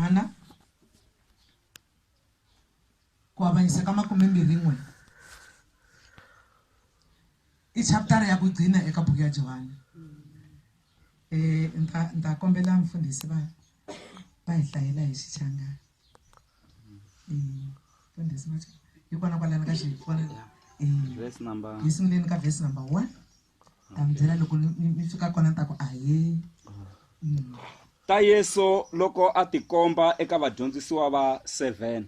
hana ku avanyisa ka makumembirhin'we i chaputara ya ku gcina eka buku ya johani um ni ta kombela mfundhisi va va hi hlayela hi xichanga mfundhisi hi kona kwalani ka xivona hi sunguleni ka vhesi number one ta mi byela loko mi fika kona ni ta ku ahee mm. ta yesu loko a tikomba eka vadyondzisiwa va 7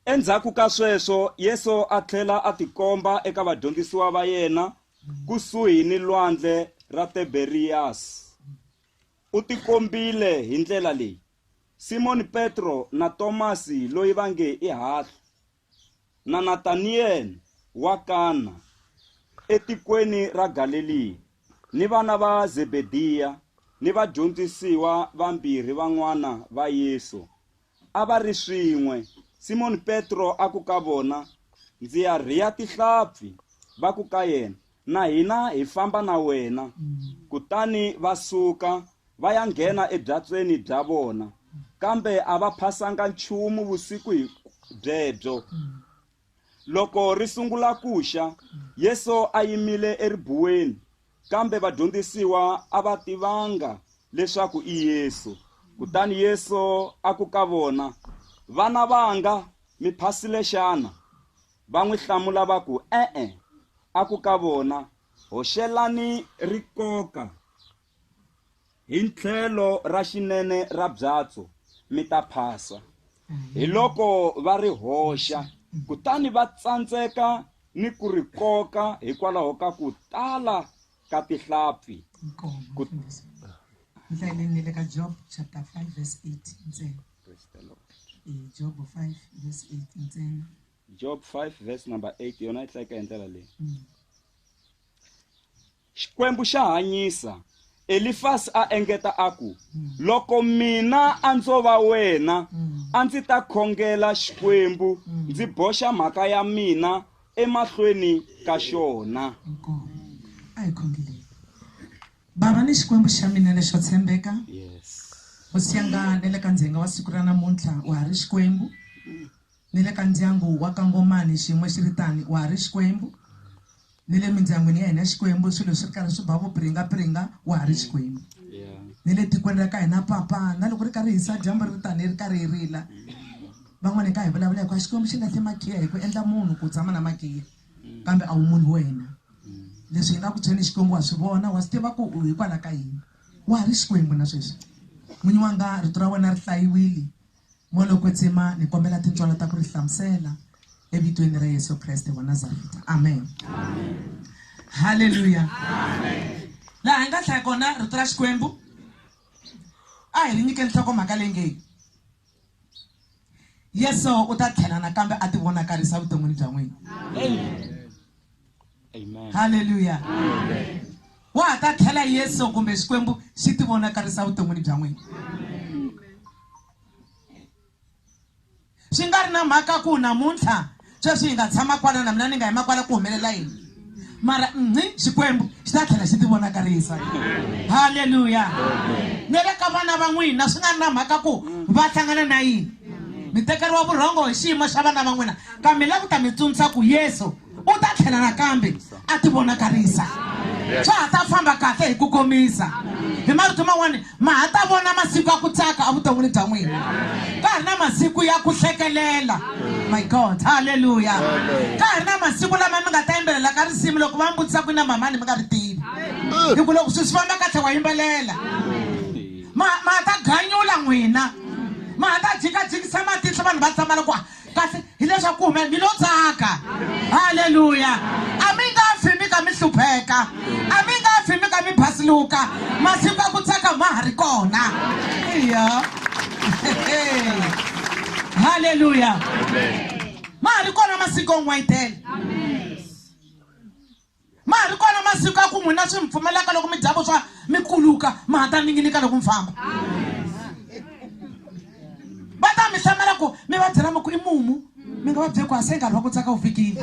endzhaku ka sweswo yesu a tlhela a tikomba eka vadyondzisiwa va yena kusuhi ni lwandle ra tiberiyasi u tikombile hi ndlela leyi simoni petro na tomasi loyi va nge i hahlu na Nataniyele wa Kana etikweni ra Galeliya ni vana va Zebediya ni vadyondzisiwa vambirhi van'wana va Yesu, a va ri swin'we. Simoni Petro a ku ka vona, Ndzi ya rhiya tihlampfi. Va ku ka yena, Na hina hi famba na wena. Kutani va suka, va ya nghena ebyatsweni bya vona, kambe a va phasanga nchumu vusiku hi byebyo. Loko ri sungula ku xa, Yesu a yimile eribuweni, kambe vadyondzisiwa a va tivanga leswaku i Yesu. Kutani Yesu a ku ka vona, Vana vanga, mi phasile xana? Va n'wi hlamula va ku, E-e. A ku ka vona, Hoxelani rikoka hi tlhelo ra xinene ra byatso, mi ta phasa. Hiloko va ri hoxa, kutani va tsandzeka ni ku ri koka hikwalaho ka ku tala ka tihlampfi ku ndleleni ni le ka job chapter 5 verse 8 ntsena job 5 verse 8 ntsena job 5 verse number 8 yona yi tleka hi ndlela leyi mm. xikwembu xa hanyisa elifasi a engeta a ku mm. loko mina a ndzo va wena mm. a ndzi ta khongela xikwembu ndzi boxa mhaka ya mina emahlweni ka xona. Nkomo. A hi khongeleni. Bava ni Xikwembu xa mina lexo tshembeka, Hosi ya nga ni le ka ndzhenga wa siku ra namuntlha, wa ha ri Xikwembu, ni le ka ndyangu wa ka Ngomani xiyimo xi ri tani, wa ha ri Xikwembu, ni le mindyangwini ya hina Xikwembu, swilo swi ri karhi swi ba vupringa-pringa, wa ha ri Xikwembu, ni le tikweni ra ka hina Papa, na loko ri karhi hisa dyambu ri ri tani, ri karhi hi rila. van'wana hi ta hi vulavula hi ku a xikwembu xi nga se makhiya hi ku endla munhu ku tshama na makhiya mm. kambe a wu munhu wena mm. leswi hi nga ku tshweni xikwembu wa swi vona wa swi tiva ku u hikwalaho ka yini wa ha ri xikwembu na sweswi n'winyi wa nga rito ra wena ri hlayiwile moloko tsima ni kombela tintswalo ta ku ri hlamusela evitweni ra yesu kreste wa nazareta amen halleluya laha hi nga hlaya kona rito ra xikwembu a hi ri nyike nhloko mhaka leyi ngeyi Yesu u ta tlhela nakambe a tivonakarisa vuton'wini bya n'wina. Amen. Haleluya. Wa ha ta tlhela Yesu kumbe Xikwembu xi tivonakarisa vuton'wini bya n'wina. Swi nga ri na mhaka ku namuntlha Sweswi hi nga tshama kwala na mina ni nga yima kwala ku humelela yini? Mara nqi Xikwembu xi ta tlhela xi tivonakarisa. Haleluya! Ni le ka vana va n'wina swi nga na mhaka ku va hlangana na yini. Mi tekeriwa vurhongo hi xiyimo xa vana va n'wina kambe ni la ku ta mi tsundzuxa ku Yesu u ta tlhela nakambe. a ti vonakarisa swa ha ta famba kahle hi ku komisa hi marito man'wani ma ha ta vona masiku ya ku tsaka evuton'wini bya n'wina ka ha ri na masiku ya ku hlekelela my god halleluya ka ha ri na masiku lama mi nga ta yimbelela ka risimu loko va mi vutisa ku na mamani mi nga ri tivi hi ku loko swi swi famba katlhe wa yimbelela ma ma ta ganyula n'wina ma ha ta jikajikisa matihlo vanhu va tsamala ku kasi hileswaku ku hume mi lo tsaka halleluya a mi nga fi mi ka mi hlupheka a mi nga fi mi ka mi basiluka masiku a ku tsaka ma ha ri kona iya halleluya ma ha ri kona masiku on'wayitele Ma ha ri kona masiku ya ku n'wina swi mi pfumelaka loko mi dya vuswa mi kuluka ma ha ta ninginika loko mi famba va ta mi hlamela ku mi va byela mi ku i mumu mi nga va bye ku a se nkarhi wa ku tsaka wu fikile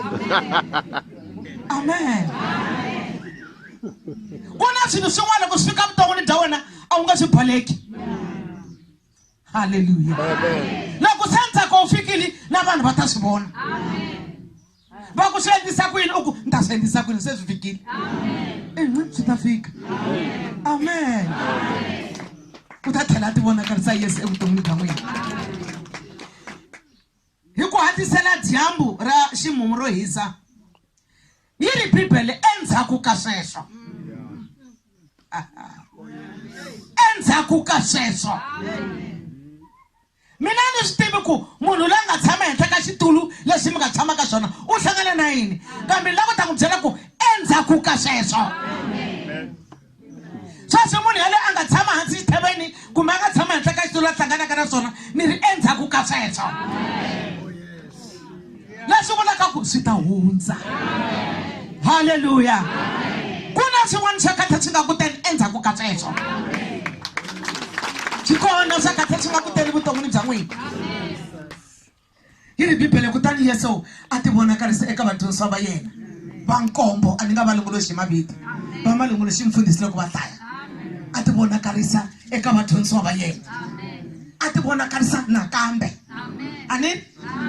amen ku na swilo swin'wana loko swi fika vuton'wini bya wena a wu nga swi baleki haleluya na ku se ntsako wu fikile na vanhu va ta swi vona va ku swi endlisa ku yini u ku ni ta swi endlisa ku yini se swi fikile inqi swi ta fika amen u ta tlhela a ti vonakarisa yesu evuton'wini bya n'wina hi ku hatisela dyambu ra ximumu ro hisa yi ri bibele endzhaku ka sweswo endzhaku ka sweswo mina ni swi tivi ku munhu loyi a nga tshama henhla ka xitulu lexi mi nga tshama ka xona u hlangane na yini kambe ni lava ku ta n'wi byela ku endzhaku ka sweswo sweswi munhu yaloye a nga tshama hansi xithaveni kumbe a nga tshama henhla ka xitulu a hlanganaka na swona ni ri endzhaku ka sweswo leswi vulaka ku swi ta hundza halleluya ku na swin'wana swa katha swi nga kuteni endzhaku ka sweswo swi kona swa katha swi nga kuteni vuton'wini bya n'wina yi ri bibele kutani yesu a ti vonakarisa eka vadyondzisiwa va yena va nkombo a ni nga va lunguluxi hi mavito va ma lunguluxi mfundhisi loko va dlaya a ti vonakarisa eka vadyondzisiwa va yena a ti vonakarisa nakambe a ni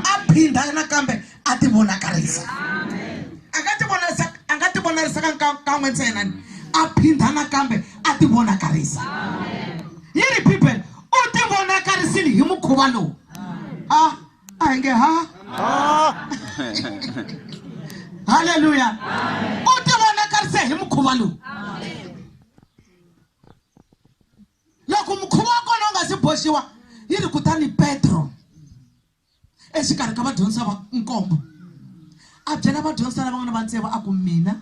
a phinda nakambe a ti vonakarisa a nga ti vonarisa a nga ti vonarisa ka kan'we ntsena ni a phinda nakambe a ti vonakarisa yi ri bibele u ti vonakarisile hi mukhuva lowu ah a hi nge ha halleluya u ti vonakarise hi mukhuva lowu loko mukhuva wa kona u nga si boxiwa yi ri kutani petro exikarhi ka vadyondzisa va nkombo a byela vadyondzisa lava nga na vantseva a ku mina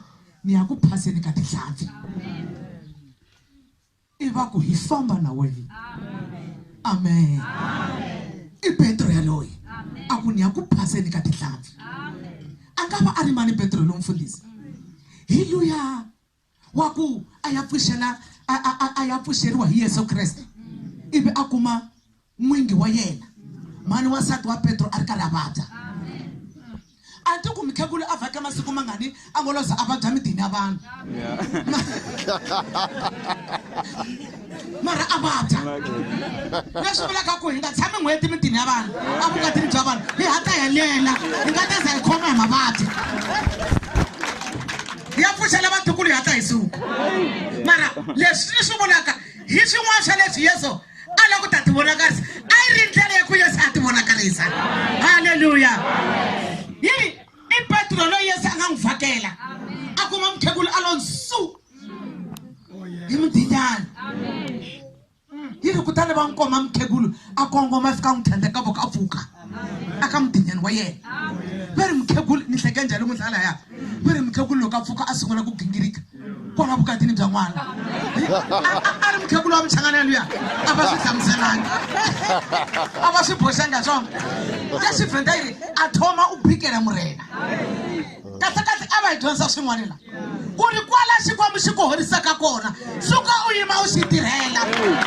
ni ya ku phaseni ka tihlampfi i va ku hi famba na wena amen i petro yaloyi a ku ni ya ku phaseni ka tihlampfi a nga va a ri mani petro lo mfundhisi hi luya wa ku a ya pfuxela a ya pfuxeriwa hi yesu kreste ivi a kuma n'wingi wa yena mhani wansati wa petro a ri karhi a vabya a ti ku mikhegulu a vhake masiku mangani a ngo loza a vabya midini ya vanhu mara a vabya leswi vulaka ku hi nga tshami n'hweti midini ya vanhu a vukatini bya vanhu hi hata hi lela hi nga teza hi khoma hi mavabyi ya pfuxela vatukulu hi hata hi suku mara leswi ni swi vulaka hi swin'wana swa leswi yesu a la ku ta tivonakarisa a yi ri ndlela ya ku yesu a tivonakarisa halleluya yi i petro loyi yesu a nga n'wi vhakela a kuma mukhegulu a lo nsu hi mudinyana yi ri kutani va n'wi koma mukhegulu a kongoma fika n'wi tlhandleka voka a pfuka a ka mudinyani wa yena va ri mukhegulu ni hleke njhani n'wi dlala ya va ri mukhegulu loko a pfuka a sungula ku gingirika kwala vukatini bya n'wana a ri mukhegula wa muchangana luya a va swi hlamuselanga a va swi boxanga swona se swi vhenda yi ri a thoma u bikela murena kahlekahle a va hi dyondza swin'wana la ku ri kwala xikwambu xi ku horisaka kona suka u yima u xi tirhela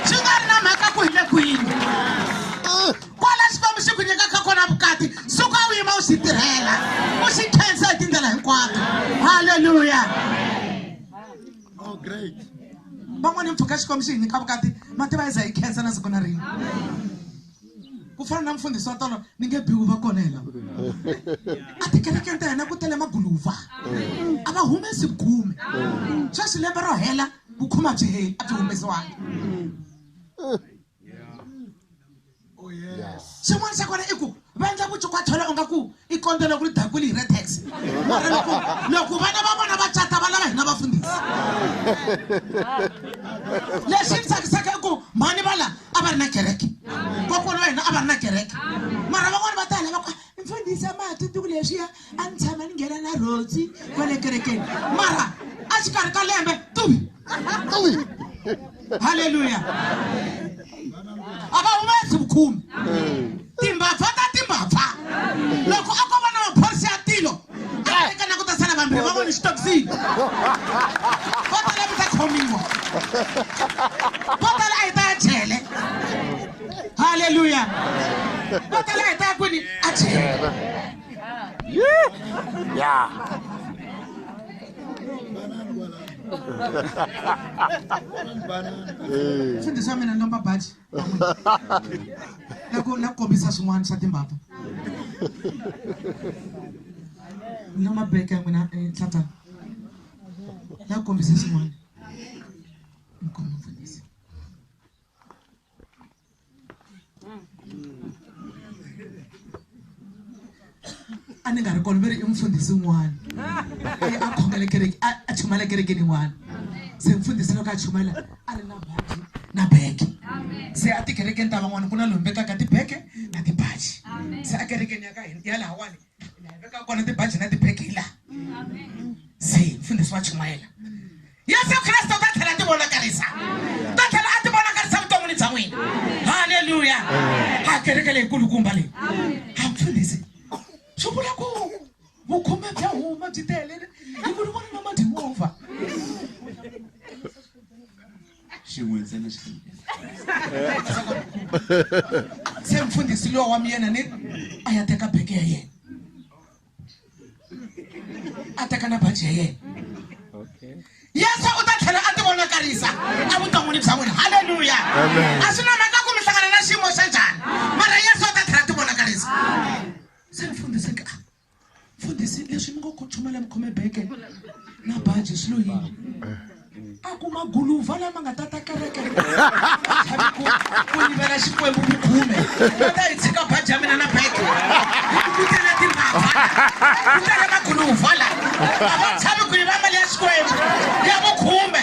swi nga ri na mhaka ku hi le kwini kwala xikwembu xi ku nyikaka kona vukati suka u yima u xi tirhela u xi khensa hi tindlela hinkwato halleluya oh, van'wana hi mpfhuka xikwembu xi hi nyika vukati mativa iza hi khensa na siku na rini ku fana na mfundhisi wa tolo ni nge biwu va kona hela a tikerekeni ta hina ku tele maguluva a va humesi khume sweswi lembe ro hela vukhuma byi heli a byi humesiwangi Oh, xin'wana xa kona i ku va endla ku chukwa tlhelo u nga ku i kondo loko ri dakuli hi retex mara loko loko vana va vona va cata va lava hina vafundhisi lexi ni tsakisaka i ku mhani va la a va ri na kereke kokwana wa hina a va ri na kereke mara van'wani va ta hi lava ku mfundhisi a ma ha tsundzuki leswiya a ni tshama ni nghena na rhozi va le kerekeni mara a xikarhi ka lembe tuvi tuvi halleluya a va humesi vukhumi timbabva ta timbabva loko a ko va na maphorisa ya tilo a tekana ku ta sala vambirhi va voni xitokisini vo tala mi ta khomiwa vo tala a yi ta ya jele halleluya vo tala a yi ta ya kwini a jele Yeah. Eh. swi ndzi swa mina lomba baji na ku na ku kombisa swin'wana swa timbapa lomba beke ya n'wina nhlata eh, na ku kombisa swin'wana a ni nga ri kona va ri i mufundhisi un'wana aye a khongela kereke a chumayela kerekeni yin'wana se mfundhisi loko a chumayela a ri na baji na beke se a tikerekeni ta van'wana ku na lombekaka tibeke na tibaji se a kerekeni ya ka hina ya lahawani veka kona tibaji na tibeki la se mfundhisi wa chumayela yesu kreste u ta tlhela ti vonakarisa u ta tlhela a ti vonakarisa vuton'wini bya n'wina halleluya a kereke leyikulukumba leyi a mfundhisi swi vula ku vukhume bya huma byi telele hi ku ni vona na madyimovha xin'we ntsena xi se mfundhisi lowa wa miyena ni a ya teka beke ya yena a teka na baji ya yena yesu u ta tlhela a ti vonakarisa evuton'wini bya n'wina halleluya a swi na mhaka ku mi hlangana na xiyimo xa njhani mara yesu u ta tlhela a ti vonakarisa se mfundhisi ka mfundhisi leswi ni ngo ku chumela mi khome beke na baji swi lo yini a ku maguluva lama nga ta ta kereke ku yivela xikwembu ku khume va ta yi tshika baji ya mina na beke ku tele timbava ku tele maguluva la a va tshami ku yiva mali ya xikwembu ya vukhume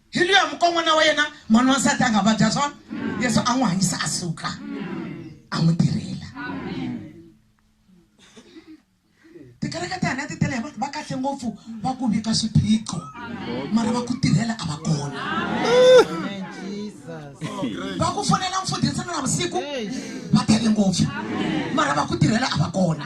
hi luya mukon'wana wa yena n'wana wansati a nga vabya swona yesu a n'wi hanyisa a suka a n'wi tirhela tikereke ta hina ti tele hi vanhu va kahle ngopfu va ku vika swiphiqo mara va ku tirhela a va kona va ku fonela mfundhisana na vusiku va tele ngopfu mara va ku tirhela a va kona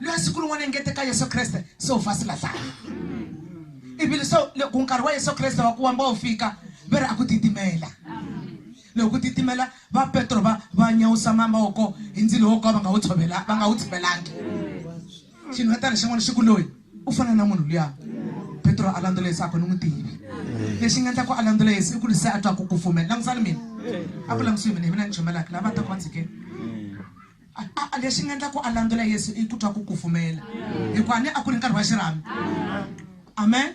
loyi siku rin'wana engeteka yesu kreste se u fa silahlaya ivile so loko nkarhi wa yesu kreste wa ku wamba wu fika ve ri a ku titimela loko ku titimela va petro va va nyawusa mavoko hi ndzilo wo ka va nga wu tshovela va nga wu tshivelangi xinhwetana xin'wana xi ku loyi u fana na munhu luya petro a landzela yesu a ku ni n'wi tivi lexi nga endla ku a landzela yesu i ku ri se a twa ku kufumela langusani mina a ku langusini mina hi mina ni chomelaka lava va ta ku va tshikeni A, a lexi nga endla ku a landzela Yesu i ku twa ku kufumela, hikuva a ni a ku ri nkarhi wa xirhami. Amen.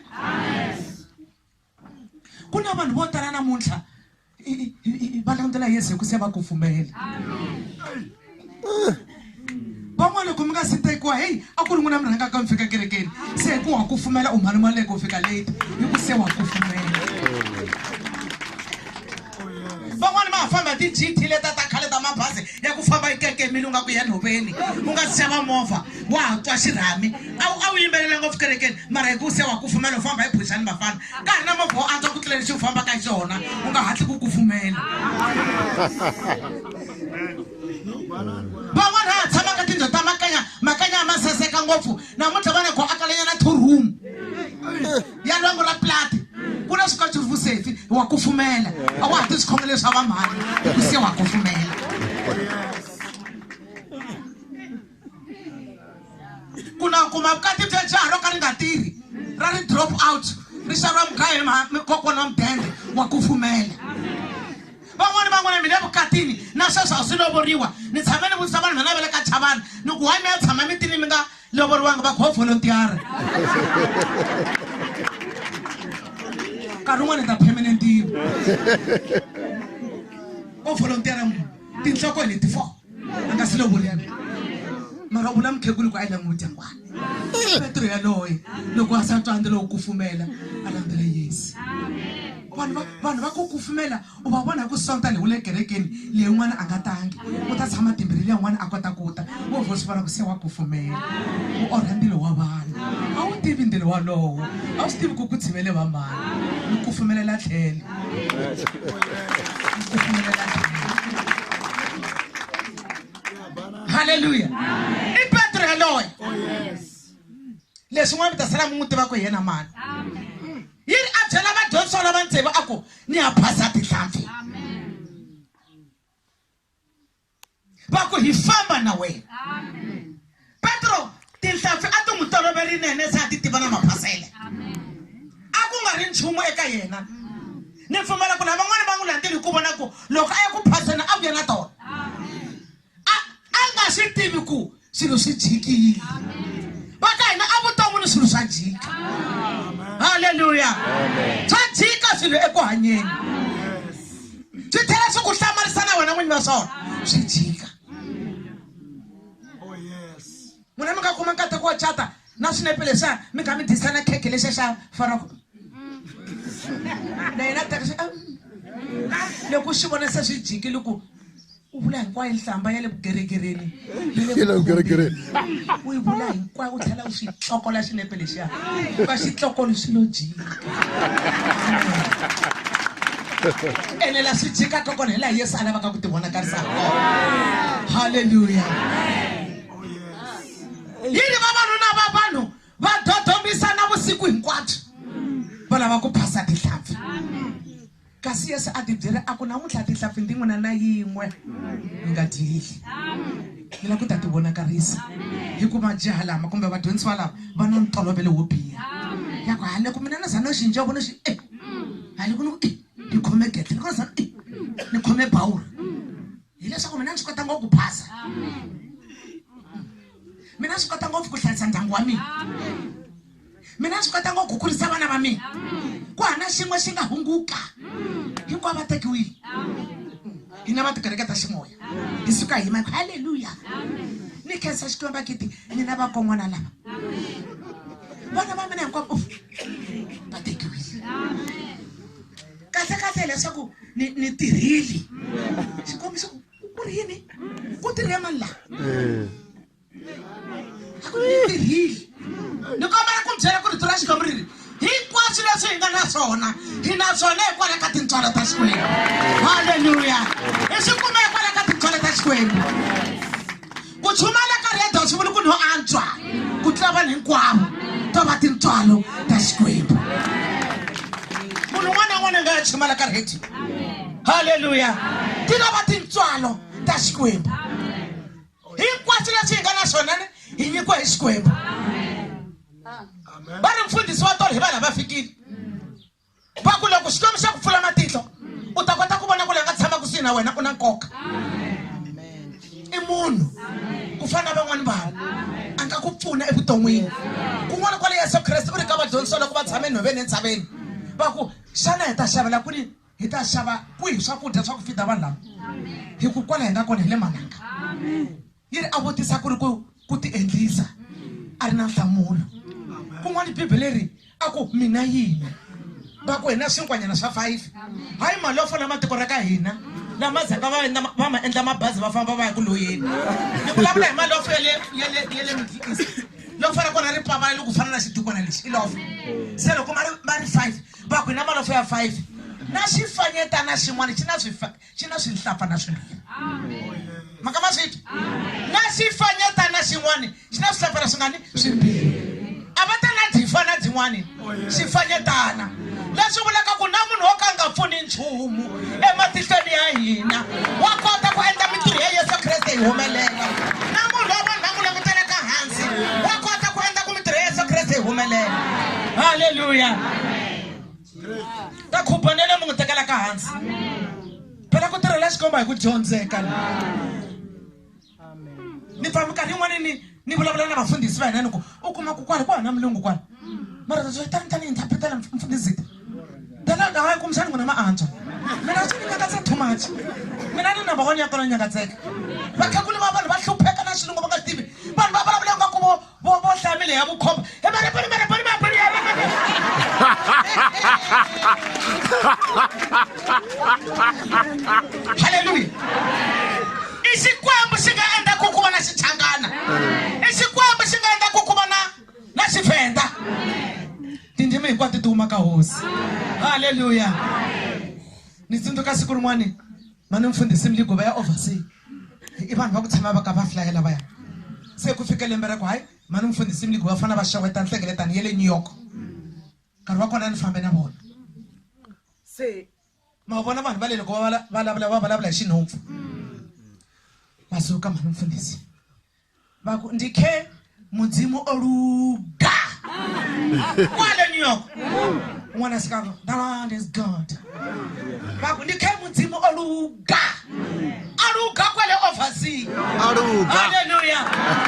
Ku na vanhu vo tala namuntlha va landzela Yesu hi ku se va kufumela. van'wana loko mi nga si tekiwa heyi a ku ri n'wina mi rhangaka mi fika kerekeni se hi ku wa kufumela u mhani maleke u fika late hi ku se wa kufumela van'wani va ha famba hi ti-gt leta ta khale ta mabazi ya ku famba yi kekemile u nga ku ya nhoveni u nga si xava movha wa ha twa xirhami a wu a wu yimbelela ngopfu kerekeni mara hi ku se wa ku pfumela u famba hi phuxani vafana ka ha ri na movha wo antswa ku tlula lexi u fambaka hi xona u nga hatli ku ku pfumela van'wana ha tshama ka tindlo ta makanya makanya a ma saseka ngopfu namuntlha va ne go akalanyana two room ya lwangu ra plati ku na swikotsi vusefi wa kufumela a wa ha ti swikhongelo swa vamhani ku se wa kufumela ku na kuma vukati bya jaha ro ka ri nga tirhi ra ri drop out ri xariwa mugaya kokwana wa mudende wa kufumela van'wani van'wana mina evukatini na sweswo a swi lovoriwa ni tshame ni vutisa vanhu vana va le ka chavana ni ku wa mi ya tshama mitini mi nga lovoriwanga va go volontiara nkarhi wun'wana ta permanent yivo o volontiara munhu tinhloko hi leti four a nga si lovolini mara u vula mukhegulu ku a yi languta ngwana petro yaloye loko a sa tswandza lowo kufumela a landzela yesu vanhu va vanhu va ku kufumela u va vona hi ku sonta leyi u le kerekeni leyi n'wana a nga tangi u ta tshama timbirhi leyi n'wana a kota ku ta wo vho swi vona ku se wa kufumela u orha ndilo wa vanhu a wu tivi ndilo walowo a wu swi tivi ku ku tshivele va mani mi kufumelela tlhele halleluya i petro yaloye oh, leswi n'wana mi ta sala mi n'wi tiva ku hi yena mani yi ri a byela vadyondzisiwa lava ntsevu a ku ni ya phasa tihlampfi va ku hi famba na wena petro tihlampfi a ti n'wi toloverinene se a ti tiva na maphasele a ku nga ri nchumu eka yena ni pfumela ku lavan'wana va n'wi landzeli hi ku vona ku loko a ya ku phaseni a vuya na tona a a nga swi tivi ku swilo swi jikile va ka hina a vuton'wini swilo swa jika halleluya swa jika swilo eku hanyeni swi tlhela swi ku hlamarisa na wena n'winyi va swona swi jika N'wina mi nga kuma nkateko wa cata na swinepe leswiya mi nga mi dyisa na khekhe lexiya xa farako na yena a teka xi loko xi vona se swi jikile ku u vula hinkwayo nhlamba ya le vugeregereni u yi vula hinkwayo u tlhela u xi tlokola xinepe lexiya u ka xi tlokoli swi lo jika ene la swi jikaka kona hi laha yesu a lavaka ku ti vonakarisa halleluya oh, yes. yini vavanuna va vanhu va dodhomisana vusiku hinkwabyo va lava ku phasa tihlampfi kasi yesu a ti byele a ku namuntlha tihlampfi ndi n'wina na yin'we mi nga dyeli mi lava ku ta ti vonakarisa hikuva jaha lama kumbe vadyondzisiwa lava va na ntolovelo wo biha ya ku hale ku mina na zana xinja vona xi e hale ku ni ku e ni khome gete ni kona zana e ni khome bawuri hileswaku mina ni swi kota ngopfu ku phasa mina swi kota ngopfu ku hlayisa ndyangu wa mina mina swi kota ngopfu ku kurisa vana va mina ku hana xin'we xi nga hunguka hinkwavo va tekiwile hina va tikereke ta ximoya hi suka hi mako halleluya ni khensa xikwembu va kiti nina vakon'wana lava vana va mina hinkwavo va tekiwile kahle kahle hileswaku ni ni tirhile xikombiso ku ri yini ku tirhe mani laha a ku ni tirhile ni kombela ku byela ku rito ra xikwembu ri ri hinkwaswo leswi hi nga na swona hi na swona hikwalaho ka tintswalo ta xikwembu halleluya hi swi kume hikwalaho ka tintswalo ta xikwembu ku chumayela ka rhedo swi vuli ku no antswa ku tlula vanhu hinkwavo to va tintswalo ta xikwembu munhu un'wana na un'wana a nga ya chumayela ka rhedo halleluya ti lava tintswalo ta xikwembu hinkwaswo leswi hi nga na swona ni hi nyikiwa hi xikwembu va ri mfundhisi wa tolo hi vanhu a va fikile va ku loko xikwembu xa ku pfula matihlo u ta kota ku vona ku la nga tshama kusuhi na wena u na nkoka i munhu ku fana na van'wana vanhu a nga ku pfuna evuton'wini kun'wana kwale yesu kreste u ri ka vadyondzisa loko va tshame nhoveni entshaveni va ku xana hi ta xavela kwini hi ta xava kwihi swakudya swa ku fida vanhu lava hi ku kwala hi nga kona hi le mananga yi ri a vutisa ku ri ku ku ti endlisa a ri na nhlamulo kun'wana bibele ri a ku mina yini va ku hina swinkwanyana swa five hayi mali yo fola matiko ra ka hina lama zaka va endla va ma endla mabazi va famba va ya ku loyeni ni vulavula hi mali yo fo yale yale yale middle east loko fana kona ri pavale loko fana na xidukwana lexi i lofo se loko ma ri ma ri five va ku hina malofo ya five na xifanyetana xin'wana xi na xi na swihlapfa na swimbirhi maka ma swi twa na xifanyeta na xin'wani xi na swihlapfa na swingani swimbirhi a va ta na dzifa na dzin'wani xifanyetana leswi vulaka ku na munhu wo ka nga pfuni nchumu ematihlweni ya hina wa kota ku endla mintirho ya yesu kreste yi humelela na munhu wa vanhu va ku langutelaka hansi wa kota ku endla ku mintirho ya yesu kreste yi humelela halleluya ta khubanele mi n'wi tekela ka hansi phela ku tirhela xikomba hi ku dyondzeka ni pfa minkarhi yin'wana ni ni vulavula na vafundhisi va hina ni ku u kuma ku kwala ku hana mulungu kwala mara tani tani interpretela mfundhisi tala nga hayi kumbexani n'wina ma antswa mina swi ni nyakatsa too much mina ni number one ya kona nyakatseka vakhakuli va vanhu va hlupheka na xilungu va nga tivi vanhu va vulavula nga ku vo Bo bo hlamile ya vukhomba. He mara pone mara pone mara pone. Hallelujah. I xikwembu xi nga endla ku ku va na xichangana. I xikwembu xi nga endla ku ku va na na xivenda. Tindzimi hinkwato ti huma ka hosi. Hallelujah. Ni tsundzuka siku rin'wani mani mfundhisi mliguva ya oversea i vanhu va ku tshama va ka va flayela va ya se ku fika lembe ra ku hayi mani mfundhisi mliguva va fanele va xeweta nhlengeletano ya le new york nkarhi wa kona ni fambe na vona se ma vona vanhu va le loko va vulavula va vulavula hi xinhompfu va suka mani mfundhisi vha ku ndi khe mudzimu o luga kwale new york ṅwana sikano the land is god vha ku ndi khe mudzimu o luga a luga kwale oversea aluga haleluya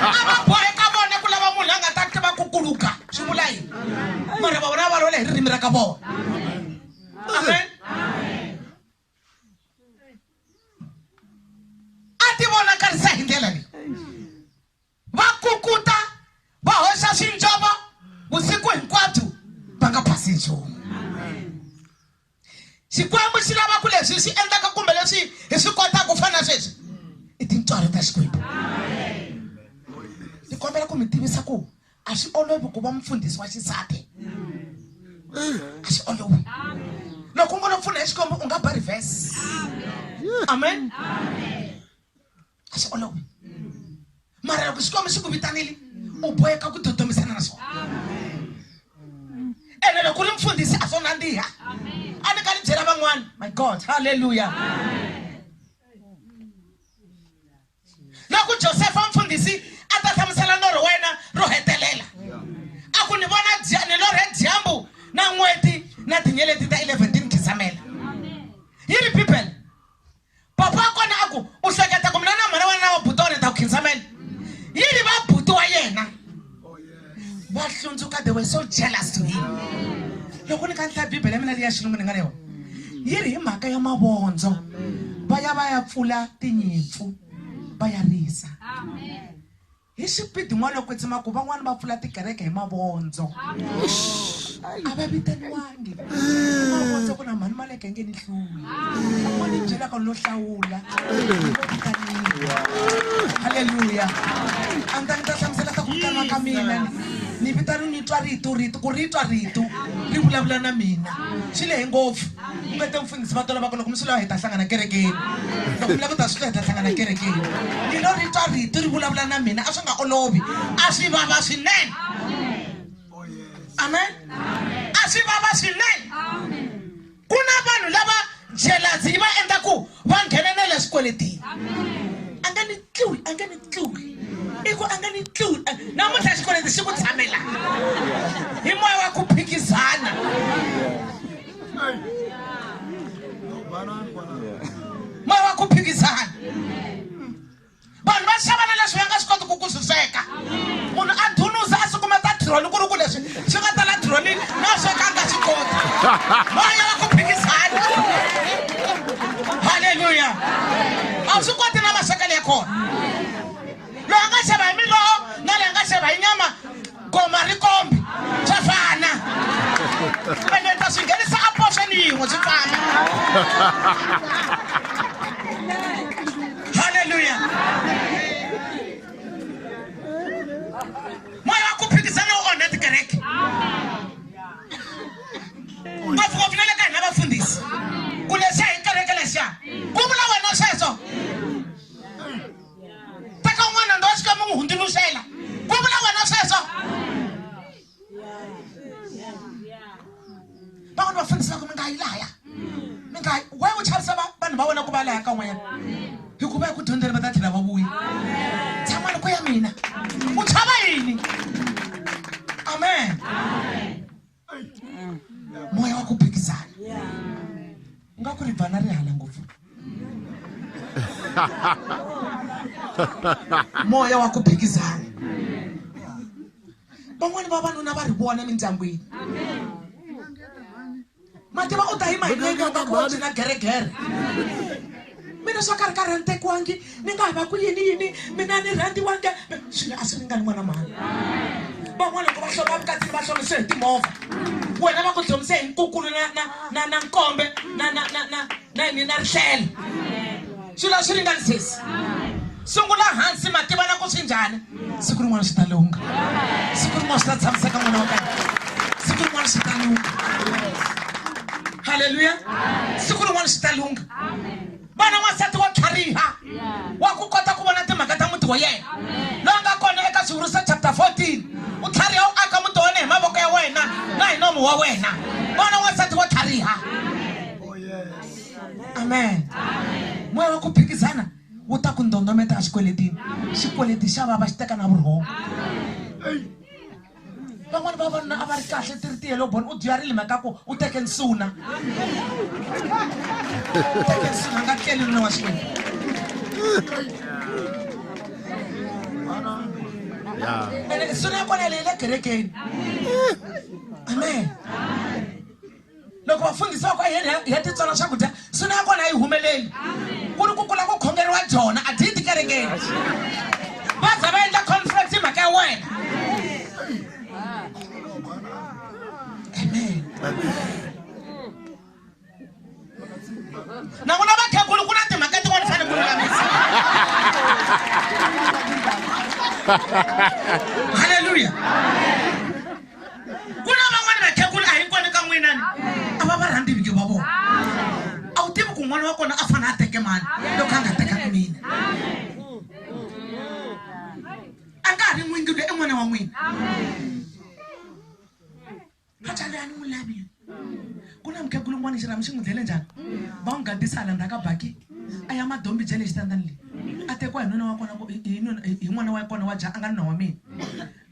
a va boheka vona ku lava munhu la nga ta tiva ku ku luga swi vula yini mara va vona va lola hi ririmi ra ka vona amen a ti vonakarisa hi ndlela leyi va kukuta va hoxa swinjova vusiku hinkwabyo va nga phasi nchumu xikwembu xi lava ku leswi swi endlaka kumbe leswi hi swi kotaka ku fana sweswi i tintswalo ta xikwembu ni kombela ku mi tivisa ku a swi olovi ku va mufundhisi wa xisati a swi olovi loko u ngo lo pfuna hi xikombo u nga ba reverse amen a swi olovi mara loko xikombo xi ku vitanile u boheka ku dodomisana na swona ene loko u ri mufundhisi a swo nandziha a ni ka ni byela van'wana my god halleluya loko josefa mfundhisi a ta hlamusela norho wa yena ro hetelela a ku ni vona ni lorhe dyambu na n'weti na tinyeleti ta 11 ti ni khisamela yi ri bibele papa wa kona a ku u hleketa ku mina na mhana wena na wa buti wa ni ta ku khinsamela yi ri va buti wa yena va hlundzuka they were so jealous to him loko ni ka ni hlaya bibele ya mina leyi ya xilungu ni nga na yona yi ri hi mhaka ya mavondzo va ya va ya pfula tinyimpfu va ya risa hi xipidi n'wana loko tsima ku van'wani va pfula tikereke hi mavondzo a va vitaniwangi mavondzo ku na mhani male hluleke nge ni hluli loko ni byelaka lo hlawula halleluya a ni ta ni ta hlamusela swa ku vitana ka mina ni vitani ni twa rito rito ku ri twa rito ri vulavula na mina swi lehe ngopfu ku nga te mfundhisi va tola va ku loko mi swi lava hi ta hlangana kerekeni loko mi lava ku ta swi lava hi ta hlangana kerekeni ni lo ri twa rito ri vulavula na mina a swi nga olovi a swi vava swinene Oh, yes. amen a swi vava swinene ku na vanhu lava jelazi yi va endla ku va nghena na le swikweletini a nga ni tliwi a nga ni tliwi i ku a nga ni tliwi namuntlha xikweleti xi ku tshamela hi moya wa ku phikizana moya wa ku phikizana vanhu va xava na leswi va nga swi koti ku ku swi sweka munhu a dhunuza a sukumeta dironi ku ri ku leswi swi nga tala dironini na swekanga swi koti moya wa ku phikizana halleluya a swi koti na maswekelo ya kona loyi a nga xava hi miloho na leyi a nga xava hi nyama goma ri kombi swa fana kumbe ni ta swi nghenisa a poxeni yin'we swi fana halleluya moya wa ku phikizana wu onhe tikereke ngopfungopfu na le ka hina vafundhisi ku leswiya hi kereke lexiya ku vula wena sweswo teka un'wana ndo xi ka mi n'wi hundzuluxela ku vula wena sweswo van'wana va fanisa ku mi nga yi laya mi nga yi we u chavisa vanhu va wena ku va laya ka n'wanyana hikuva hi ku dyondzela va ta tlhela va vuya tshamani ku ya mina u chava yini amen, amen. mweya wa ku phikizana u nga ku ri bana ri hala ngopfu moya wa ku phikizana van'wani vavanuna va ri vona mindyangwini mativa u ta yima hi milenge u ta ku wa byina geregere mina swa ka ri ka rhantekiwangi ni nga ha va ku yini yini mina ni rhandiwange swilo a swi ringani n'wana mhani van'wana loko va hloma vukatini va hlomise hi timovha wena va ku dlomise hi nkukulu na na na na nkombe na na na na na yini na rihlelo swilo a swi ringani sesi sungula hansi mativana ku swi njhani siku rin'wana swi ta lungha siku rin'wana swi ta tshamiseka n'wana wa kana siku rin'wana swi ta lungha halleluya siku rin'wana swi ta lungha vana n'wansati wa tlhariha wa ku kota ku vona timhaka ta muti wa yena loyi nga kona eka swivuriso chapter 14 u tlhariha u aka muti wa wena hi mavoko ya wena na hi nomu wa wena vana n'wansati wa tlhariha oh, amen moya wa ku phikizana wu ta ku ndondometa exikweletini xikweleti xa vava xi teka na vurhongo van'wani vavanuna a va ri kahle ti ri tiyelo boni u dyarile mhaka ku u teke nsuna u teke nsuna nga tleli nuna wa xikweleti ene nsuna ya kona leyi le kerekeni amen loko vafundhisi va ku ayeni hi ya titsona swakudya suna ya kona a yi humeleli ku ri ku kula ku khongeriwa jona a dyi tikerekeni va za va endla conference hi mhaka ya wena amen na ku na vakhegulu ku na timhaka tin'wana fane ku lulamisa halleluya ku na van'wana vakhegula a hinkwani ka n'wina ni a va va rhandzi vingi va vona a wu tivi ku n'wana wa kona a fanele a teke mani loko a nga tekanga mina a nga ha ri n'wingi loyi i n'wana wa n'wina vatswari a ni n'wi lavi ku na mukhegula un'wana xirhami xi n'wi dlele njhani va n'wi gadisa hala ndzhaka baki a ya madombi bya le xitandani leyi a tekiwa hi nuna wa kona hi n'wana wa kona wa ja a nga nuna wa mina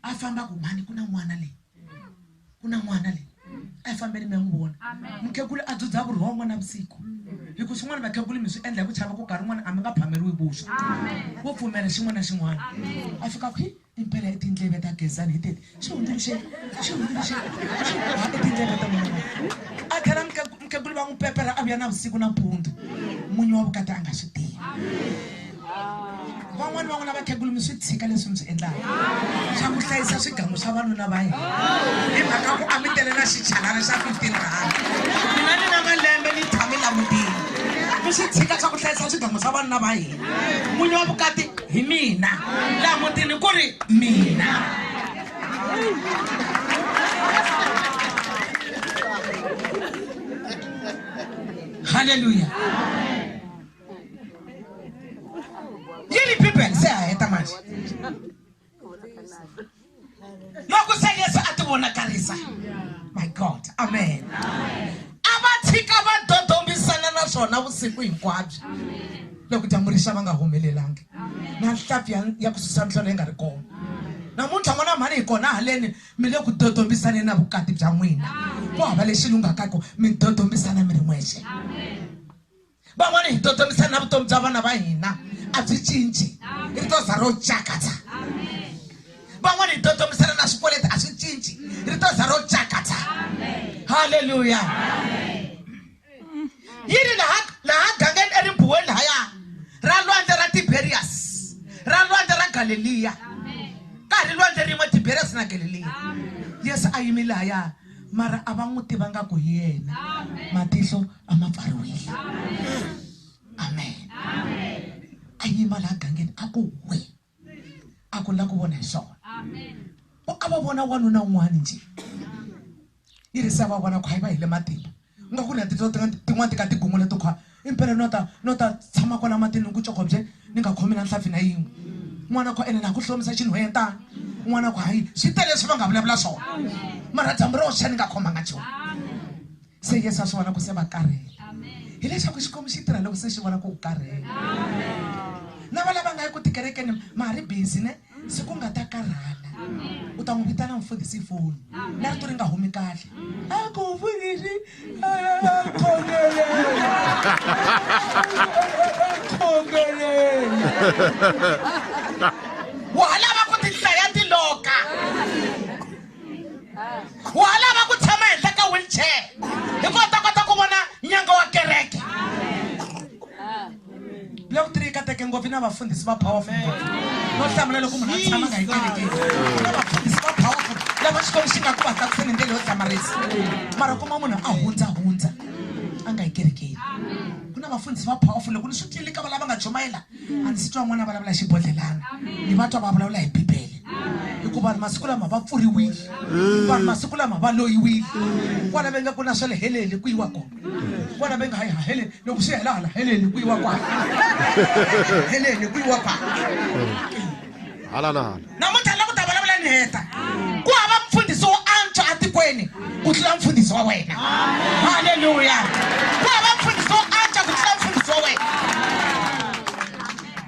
a famba ku mhani ku na n'wana leyi ku na n'wana leyi a yi fambeli mi ya n'wi vona mukhegulu a dzudza vurhongo na vusiku hi ku swin'wana vakhegulu mi swi endla hi ku chava ku karhi n'wana a mi nga phameriwi vuswa wo pfumela xin'wana na xin'wana a fika ku hi impela i tindleve ta gezani hi tete xi hundzuluxe xi hundzuluxe xi ha i tindleve ta n'wana a tlhela mukhegulu va n'wi pepela a vuya na vusiku na mpundzu munyu wa vukati a nga swi tivi van'wani van'wana vakhegulu mi swi tshika leswi mi swi endlaka swa ku hlayisa swigangu swa vanuna va hina hi mhaka ku a mi tele na xichalana xa 15 rand mina ni na malembe ni tshame langutile mi swi tshika swa ku hlayisa swigangu swa vanuna va hina n'winyi wa vukati hi mina laha mutini ku ri mina halleluya Yeni people say I hate much. Loko se Yesu a ti vonakarisa. My God. Amen. A va tshika va dodombisana na swona vusiku hinkwabyo. Loko dyambu rixa va nga humelelangi. Na nhlapi ya ya ku susa nhlolo yi nga ri kona. namuntlha n'wana mhani hi kona haleni mi le ku dodombisane na vukati bya n'wina ku hava lexi lunghakako mi dodombisana mi ri n'wexe van'wana hi totomisa na vutomi bya vana va hina a byi cinci ri to za ro cakatsa van'wana hi totomisana na swikweleti a swi cinci ri to za ro cakatsa halleluya yi ri laha laha gangeni erimbuweni lahaya ra lwandle ra tiberias ra lwandle ra galeliya ka ha ri lwandle rin'we tiberias na galeliya yesu a yimi lahaya mara a va n'wi tivanga ku hi yena matihlo a ma pfariwile amen a yima laha gangeni a ku we a ku la ku vona hi swona ku a va vona wanuna un'wana njhe yi ri se va vona khwa yi va hi le matimba u nga ku ri na tito tin'wana ti ka tigungula to khwa impela no ta no ta tshama kwala matini ni ku cokobye ni nga khomi na nhlampfi na yin'we n'wana khwa ene na ku hlomisa xinhwentana n'wana khwa hayi swi tele leswi va nga vulavula swona mara dyambu ro xa ni nga khomanga nchumu se yesu a swi vona ku se va karhele hileswaku xikwembu xi tirha loko se xi vona ku u karhele na va lava nga yi ku tikerekeni ma ha ri busy ne se ku nga ta karhala u ta n'wi vitana mfundhisi hi foni na rito ri nga humi kahle a ku mfundhisi khongeleni wa ha lava ku tihlaya tiloka wa ha lava ku tshama henhla ka wheelchair hikuva ta kota ku vona nyanga wa kereke black tree ka teke ngopfu na vafundhisi va powerful no hlamula loko munhu a tshama nga hi kerekeni na vafundhisi va powerful lava xikwembu xi nga ku va tsakiseni hi ndlela yo hlamarisa mara kuma munhu a hundza hundza a nga hi kerekeni ku na vafundhisi va powerful loko ni swi tlilika va lava nga chumayela a ndzi twa n'wana vulavula hi xibodlhelana ni va twa va vulavula hi bibele hikuva vanhu masiku lama va pfuriwile vanhu masiku lama va loyiwile kwala va nga ku na swa le heleni ku yiwa kona kwala va nga hayi haheleni loko swi hela hala heleni ku yiwa kwala heleni ku yiwa kwala hala na hala namuntlha la ku ta vulavula ni heta ku hava mfundhisi wo antswa etikweni ku tlula mfundhisi wa wena halleluya ku hava mfundhisi wo antswa ku tlula mfundhisi wa wena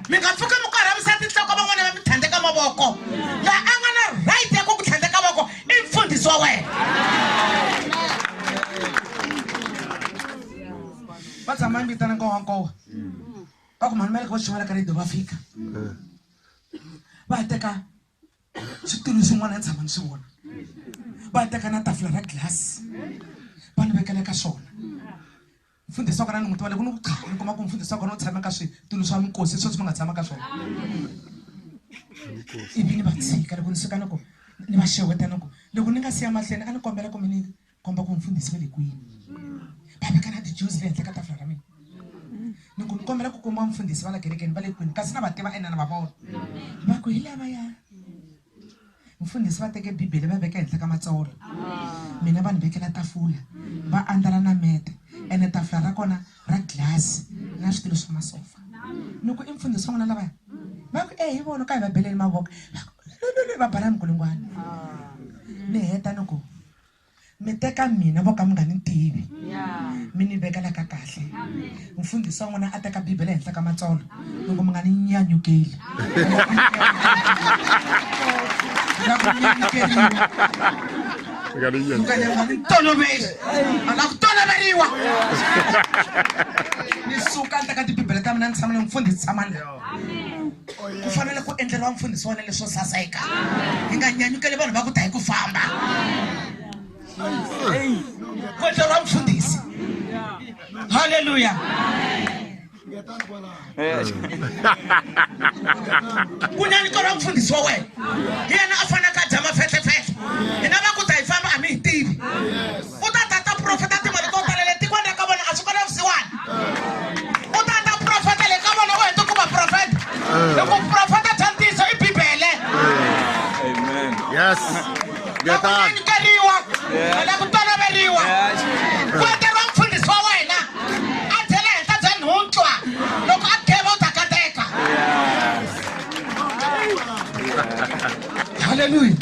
mi nga pfuki mi korhamisa tinhloko van'wana va mi tlhandleka mavoko la a nga na right ya ku ku tlhandleka voko i mfundhisi wa wena va tshama mi vitana nkowankowa va ku mhani va le ka va xin'wana ka radio va fika va teka switulu swin'wana ni tshama ni swi vona va teka na tafula ra glass va ni vekela ka swona mfundhisi wa kona ni muti wa le ku ni ku cha ni kuma ku mfundhisi wa kona u tshame ka switulu swa minkosi sweswi mi nga tshama ka swona ivi ni va tshika loko ni suka ni ku ni va xeweta ni ku loko ni nga siya mahlweni a ni kombela ku mi ni komba ku mfundhisi va le kwini va veka na tijuzi le henhla ka tafula ra mina ni ku ni kombela ku kuma mfundhisi va la kerekeni va le kwini kasi na va tiva ene na va vona va ku hi lavaya mfundhisi va teke bibele va veka henhla ka matsolo mina va ni vekela tafula va andlala na mete ene tafula ra kona ra glasi na switulu swa masofa ni ku i mfundhisi wa n'wina lavaya va ku e hi vona ka hi va beleni mavoko va bala mikulungwana ni heta ni ku mi teka mina vo ka mi nga ni tivi mi ni vekela ka kahle mfundhisi wa n'wina a teka bibele henhla ka matsolo loko mi nga ni nyanyukeli na ku nyanyukeriwa mukanya nga ni toloveli a nga ku toloveriwa ni suka ni teka tibibele ta mina ni tshama ni mfundhisi tshama ni ku fanele ku endleriwa mfundhisi wena leswo saseka hi nga nyanyukeli vanhu va ku ta hi ku famba ku endleriwa mfundhisi halleluya ku nyanyukeriwa mfundhisi wa wena hi yena a faneleke a dya mafetlefetle hina va ku ta hi famba a mi hi tivi u ta ta ta profeta timali to tala le tikweni ra ka vona a swi kona vusiwana u ta ta profeta le ka vona u heta ku va profeta loko profeta bya ntiyiso i bibele yes ngetani keriwa ala ku toloveriwa ku eteriwa mfundhisi wa wena a byela henhla bya nhuntlwa loko a kheva u ta kateka halleluya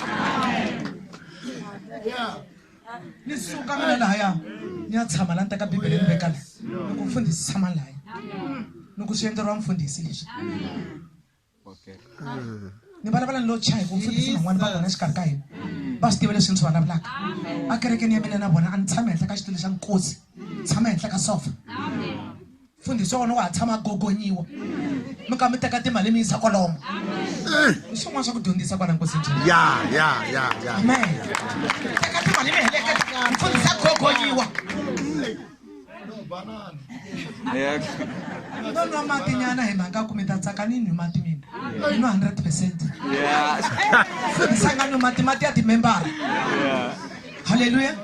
ni suka mina lahaya ni ya tshama la ni teka bibele ni veka la loko mfundhisi tshama lahaya loko swi endleriwa mfundhisi leswi ni vulavula ni lo chaya hi ku mfundhisi van'wana va kona exikarhi ka hina va swi tiva leswi ni swi vulavulaka a kerekeni ya mina na vona a ni tshame henhla ka xitulu xa nkosi tshama henhla ka sofa mfundhisi wa wena wa ha tshama gogonyiwa mi ka mi teka timali mi yisa kwalomo i swin'wana swa ku dyondzisa kwala nkosi njhani ya ya ya ya amen teka timali mi heleketa mfundhisi a gogonyiwa no nwa mati nyana hi mhaka ku mi ta tsaka ni nwi mati mina i nwa hundred percent mfundhisi a nga nwi mati mati ya timembara haleluya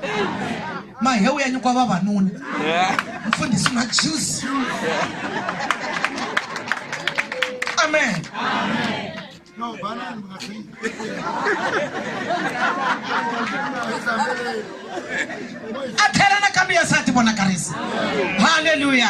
mahewu ya nyikiwa vavanuna mfundhisi na juice amen a tlhela nakambe ya sati vonakarisa haleluya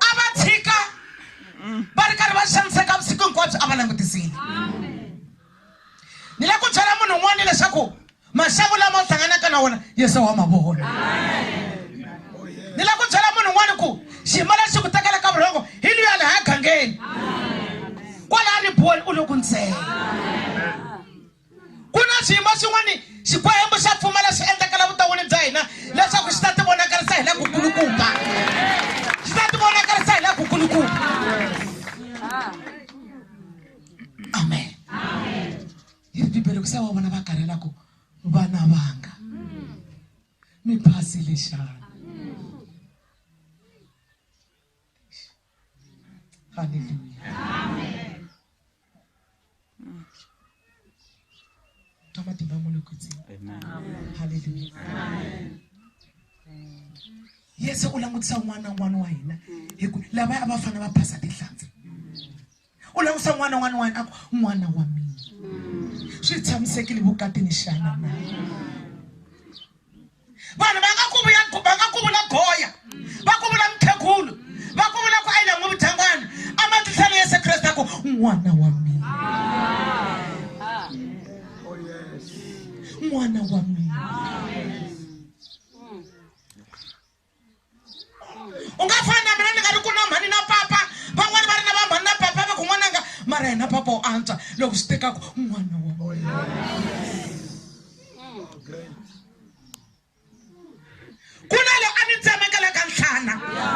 a va tshika va ri karhi va xaniseka vusiku hinkwabyo a va langutisile ni le ku byela munhu un'wana leswaku maxaku lama u hlanganaka na wona yesu wa ma vona ni le ku byela munhu un'wana ku xiyimo lexi ku tekela ka vurhongo hi luya le haya gangeni kwalaya ribuweni u le ku ntsena ku na swiyimo swin'wana xikwembu xa pfumela swi endlekela vuton'wini bya hina leswaku xi ta ti vonakarisa hi le ku kulukumba xi ta ti vonakarisa hi le ku kulukumba amen yi ri bibele ku se wa vona va karhela ku vana vanga mi phasile xana Haleluya. Amen. Ka matimba mo le kwetseng. Amen. Haleluya. Amen. Yesu u langutisa n'wana n'wana wa hina hi ku lava a va fana va phasa tinhlanzi. u langutisa n'wana un'wana un'wana a ku n'wana wa mina swi tshamisekile vukatini xana na vanhu va nga ku vuya va nga ku vula goya va ku vula mukhegulu va ku vula ku ayila n'wi vudyangwana a matihlela yesu kreste a ku n'wana wa mina n'wana wa mina u nga fani na mina ni nga ri ku na mhani na papa van'wani va ri na va mhani na papa va kun'wananga mara yena papa u antswa loko swi tekaku n'wana wa oh, ku na loyi a ni tsemekela ka nhlana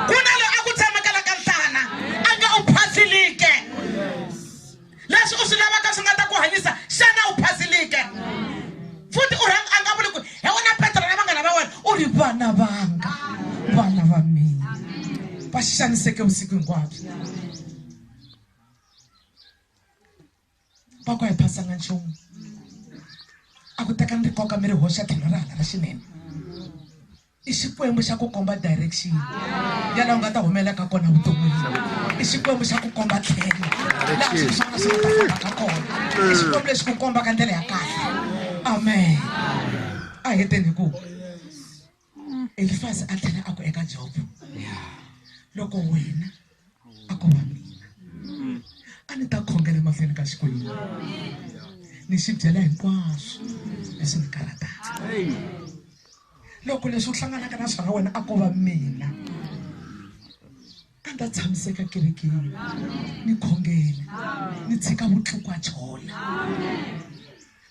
ku na loyi a ku tsemekela ka nhlana a nga u phasilike leswi u swi lavaka swi nga ta ku hanyisa xana u phazilike futhi u rhanga a nga vuli ku hi wena petro na vanghana va wena u ri vana vanga vana va mina va xaniseke vusiku hinkwabyo va ku a hi phasanga nchumu a ku teka ni ri koka mi ri hoxa tlhelo ra hala ra xinene I Xikwembu xa ku komba direction ya laha u nga ta humelela ka kona vuton'wini. I Xikwembu xa ku komba tlhelo laha swilo swa wena swi nga ta famba ka kona. I Xikwembu lexi ku kombaka ndlela ya kahle. Amen. A hi heteni hi ku Elifasi a tlhela a ku eka Jobo, loko wena a ko va mina a ni ta khongela emahlweni ka Xikwembu ni xi byela hinkwaswo leswi ni karataka. loko leswi u hlanganaka na swona wena a ko va mina a ndzi ta tshamiseka kerekeni ni khongela ni tshika vutlukwa chola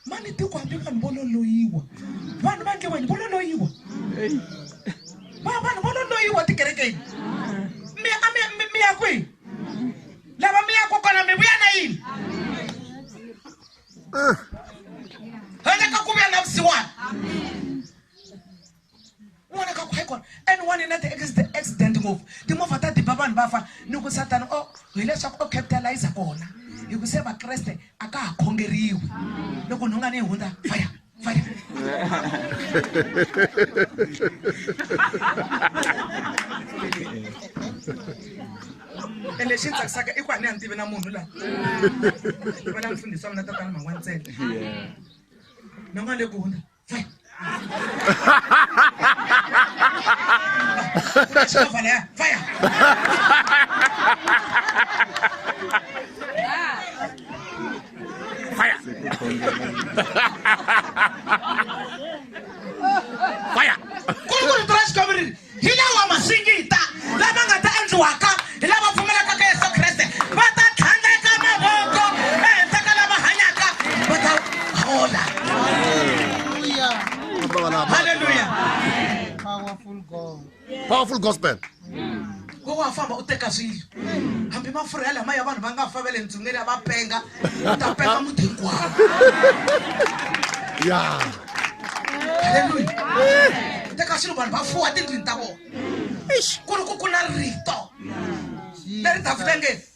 mani tiko hambi vanhu vo loloyiwa vanhu va nge vanhu vo loloyiwa vanhu vo loloyiwa tikerekeni mi a mi mi mi ya kwihi lava mi ya kokwana mi vuya na yini ah. ende ka ku vuyela vusiwana n'wana ka ku hayi kona and one na ti-accident ngopfu timovha ta diba vanhu va fa ni ku satana o oh, hileswaku o oh, capitalize kona hi ku se vakreste a ka ha khongeriwi loko nhunga ni yi hundza faya ende lexi ni tsakisaka i ku a ni ya ni tivi na munhu laha va na mfundhisi wa mina tatana mhangwa ntsena na n'wana le ku hundza xikovala ya faya Fire! Fire! kuri ku rito ra xikwembu ri ri hi lawa masingita lama nga ta endliwaka hi lava pfumelaka ka yesu kreste va ta tlhandleka mavoko ehenhla ka lava hanyaka va ta hola Hallelujah. Powerful God. powerful gospel wo wa famba u teka swilo hambi mafurha ya lama ya vanhu va nga fa va le ndzungeni ya va penga u ta penga muti hinkwawo ya halleluya u teka swilo vanhu va fuwa tindlwini ta vona ku ri ku ku na rito leri ta fika ngeni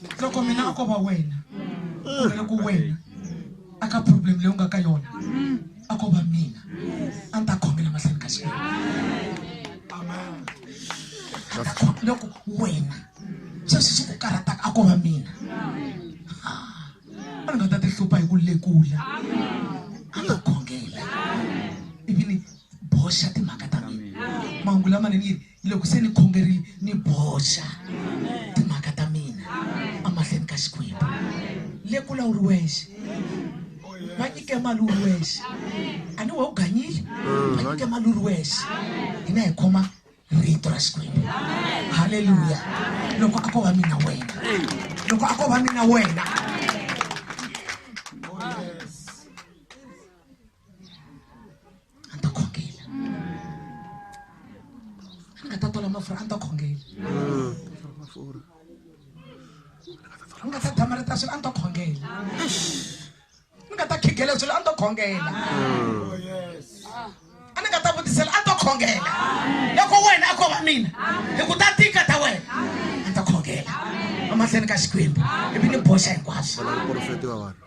loko mina a ko va wena kumbe loko wena a ka problem leyi u nga ka yona a ko va mina a ni ta khongela mahlweni ka xikwembu loko wena sweswi swi ku karhataka a ko va mina a ni nga ta ti hlupha hi ku lekula a nga khongela ivi ni boxa timhaka ta mina mahungu lamanene yini loko se ni khongerile ni boxa timhaka ta mina amahlweni ka xikwembu le kula u ri wexe va nyike mali u ri wexe a ni we u ganyile va nyike mali u ri wexe hina hi khoma rito ra xikwembu halleluya loko a ko va mina wena loko a ko va mina wena a ni ta khongela a ni nga ta tola mafurha a ni ta khongela ni nga ta damarita swilo a ni ta khongela ni nga ta khigela swilo a ni ta khongela a ni nga ta vutisela a ni ta khongela loko wena a ko va mina hi ku ta tika ta wena a ni ta khongela emahlweni ka xikwembu ivi ni boxa hinkwaswo Wala muporofeti wa vanhu.